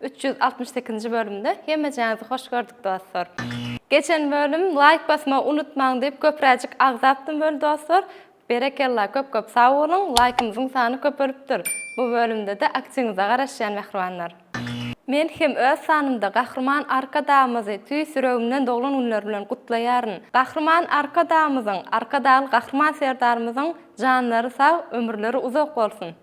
Üç ýüz altmyş sekizinji bölümde hemmejaňyzy hoş gördük dostlar. Geçen bölüm laýk basmagy unutmaň diýip köpräjik agzapdym weli dostlar. Berekella köp köp sag boluň laýkymyzyň sany köpelipdir. Bu bölümdede aktiňize garaşýan mähribanlar. Men hem öz sanymda Gahryman Arkadagymyzy tüýs ýüregimden doglan günleri bilen gutlaýaryn. Gahryman Arkadagymyzyň, Arkadagly Gahryman Serdarymyzyň janlary sag, ömürleri uzak bolsun!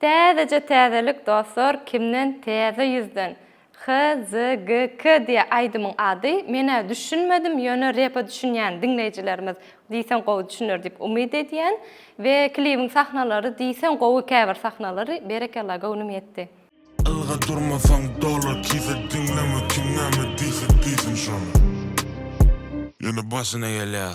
Täzeje täzelik dostlar kimden täze ýüzden HZGK diýä aýdymyň ady menä düşünmedim ýöne repa düşünýän diňleýjilerimiz diýseň gowy düşüner diýip umyt edýän we klibiň sahnalary diýseň gowy käbir sahnalary berekella göwnüm ýetdi. Ylga durmasaň dolar kise diňleme kim näme diýse diýsin şony. Ýöne başyna gelýär.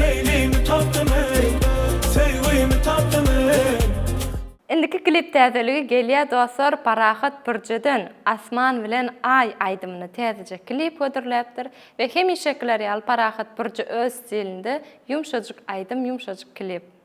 Leýlimi tapdym eý, söýgimi tapdym eý. Indiki klip täzeligi gelýä dostlar Parahat Pürjeden Asman bilen Aý aýdymyny täzeje klip hödürläpdir we hemişekiler ýaly Parahat Pürje öz stilinde ýumşajyk aýdym ýumşajyk klip.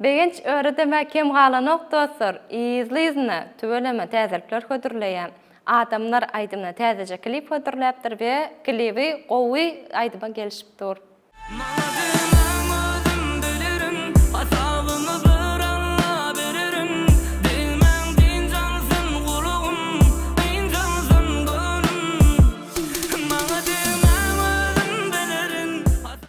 Begenç öredeme kem galanok dostlar yzly yzyna tüweleme täzelikler hödürleýä adamlar aýdymyna täzeje klip hödürläpdir we klibi gowy aýdyma gelişip dur. Maladymam özüm bilirim hasabymy bir Alla bererin Degmäň dynç alsyn gulagym dynç alsyn göwnüm Maladymam özüm bilirin hasabymy bir.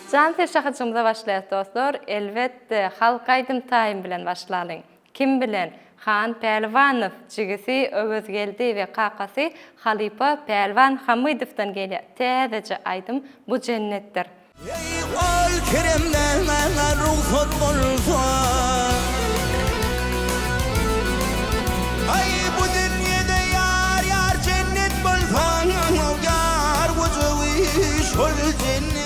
Jan Seşe hyjymyza başlaýas dostlar, elbetde halk aýdym taýym bilen başlalyň. Kim bilen? Han Pälwanow, jigisi Öwezgeldi we kakasy halypa Pälwan Hamydowdan gelýä täzeje aýdym Bu jennetdir. Eý ol keremde maňa rugsat bolsa Aý bu dünýede ýar ýar jennet bolsa Ýar gujagy şol jennet.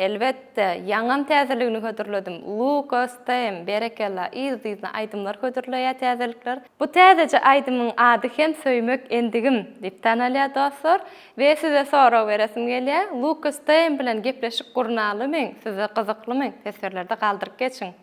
Elbetde, ýaňam täzeligini hödürledim. Luka, Stem, berekella, yzly-yzyna aýdymlar hödürleýär täzelikler. Bu täzeje aýdymyň ady hem Söýmek endigim diýip tanalýar dostlar. We size sorag beresim gelýär, Luka Stem bilen gepleşik gurnalymy, size gyzyklymy? Sesbirlerde galdyryp geçiň.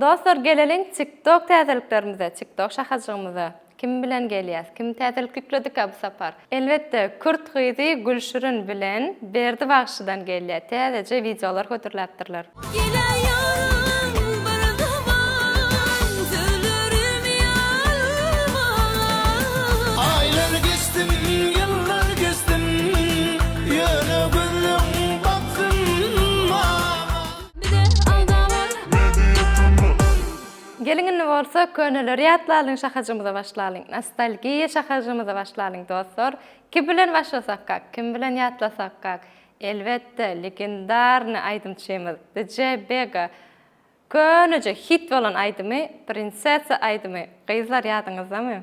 Dostlar geleliň tik tok täzeliklerimize tik tok şahajygymyza kim bilen gelýäs kim täzelik ýükledika bu sapar elbetde kürt gyzy Gülşirin bilen Berdi bagşydan gelýä täzeje wideolar hödürläpdirler. Gele ýaryň bir zaman söýlerim ýalmaga. Aýlar geçdim ýyllar geçdim ýöne gözleň baksyn maňa. Geliň indi bolsa köneleri ýatlalyň şahajymyza başlalyň nostalgiýa şahajymyza başlalyň dostlar kim bilen başlasakak kim bilen ýatlasakak elbetde legendarnyý aýdymçymyz DJ Bega köneje hit bolan aýdymy prinsessa aýdymy gyzlar ýadyňyzdamy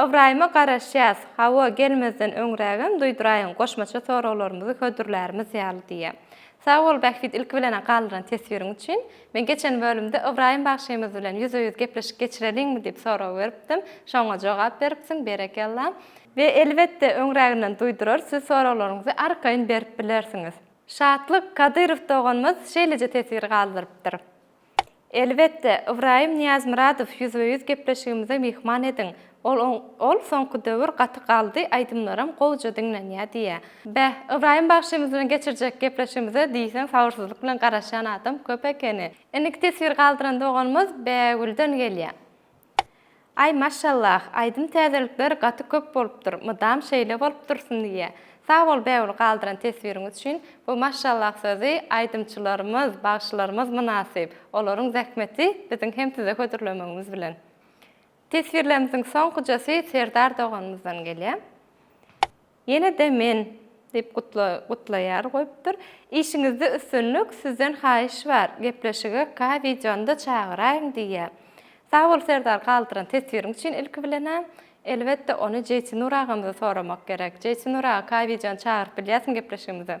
Ybraýyma garaşýas, Hawa, gelmezden öňrägem duýduraýyň, goşmaça soraglarymyzy hödürlärimiz ýaly diýýä. Sag bol, Bähbit, ilki bilen-ä galdyran teswiriň üçin. Men geçen bölümde Ybraýym bagşymyz bilen ýüze-ýüz gepleşik geçireliňmi diýip sorag beripdim. Şoňa jogap beripsiň, berekella! We, elbetde, öňräginden duýdurar, siz soraglaryňyzy arkaýyn berip bilersiňiz. Şatlyk Kadyrow doganymyz şeýleje teswir galdyrypdyr. Elbetde, Ybraýym Nyýazmyradow ýüzbe-ýüz gepleşigimize myhman ediň. Ol Ol soňky döwür gaty galdy, aýdymlaram gowja diňlenýär diýýär. Beh, Ybraýym bagşymyz bilen geçirjek gepleşigimize diýseň sabyrsyzlyk bilen garaşýan adam köp ekeni. Indiki teswir galdyran doganymyz Bägülden gelýär. Aý maşallah aýdym täzelikler gaty köp bolupdyr mydam şeýle bolup dursun diýýä sag bol Bägül galdyran teswiriňiz üçin bu maşallah sözi aýdymçylarymyz bagşylarymyz mynasyp olaryň zähmeti biziň hem size hödürlemegimiz bilen teswirlerimiziň soňkujasy Serdar doganymyzdan gelýä. Ýene-de men! diýip gutlaýar goýupdyr. Işiňizde üstünlik, sizden haýyş bar, gepleşige K wideonyda çagyraýyň diýýär. Sag bol Serdar galdyran teswiriň üçin ilki bilenä. Elbetde ony Jeýtinur agamyza soramak gerek. Jeýtinur aga K wideony çagyryp bilýärsiň gepleşigimize.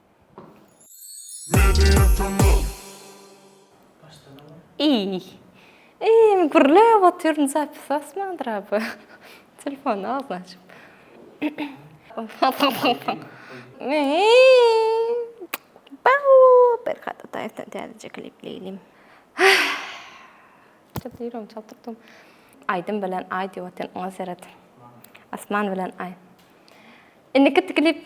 Iý. Iý, gürläp otyryn, zapis asmandyr a bu. Telefony agzyna açyp. Bau! Berkat Ataýewden täzeje klip diýelim. Çalt ýüregim çalt urdy. Aýdym bilen aý diýip otyryn, oňa seret. Asman bilen aý. Indiki klip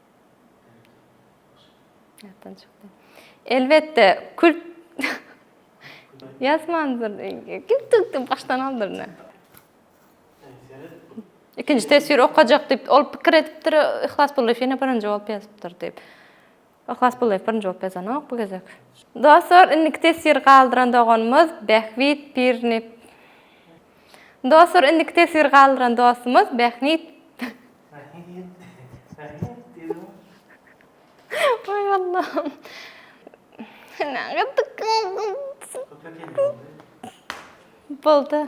Elbetde, kült ýazmandyr. Kült başdan aldyr ne? Ikinji teswir okajak diýip, ol pikir edipdir, Yhlas Bullyýew ýene birinji bolup ýazypdyr diýip. Yhlas Bullyýew birinji bolup ýazanok bu gezek. Dostlar, indiki teswiri galdyran doganymyz Bähbit Pirni. Dostlar, indiki teswiri galdyran dostumyz Bähnit. Oý Allahym. Nädip Boldy.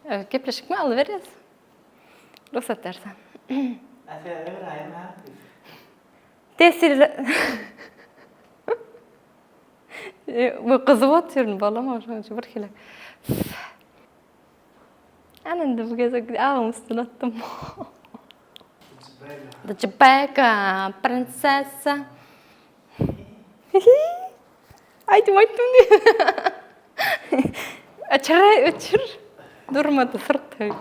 Öý gepleşikmi aly berýäs. Rugsat bersen. Tesirli. Bu gyzy otyr, balam oşunça bir hile. Ana indi bu gezek agyň üstüne atdym. Cibeka, prinsessa. Aýdym aýtdym diýip. Öçür, öçür. Durmady syrk taýyp.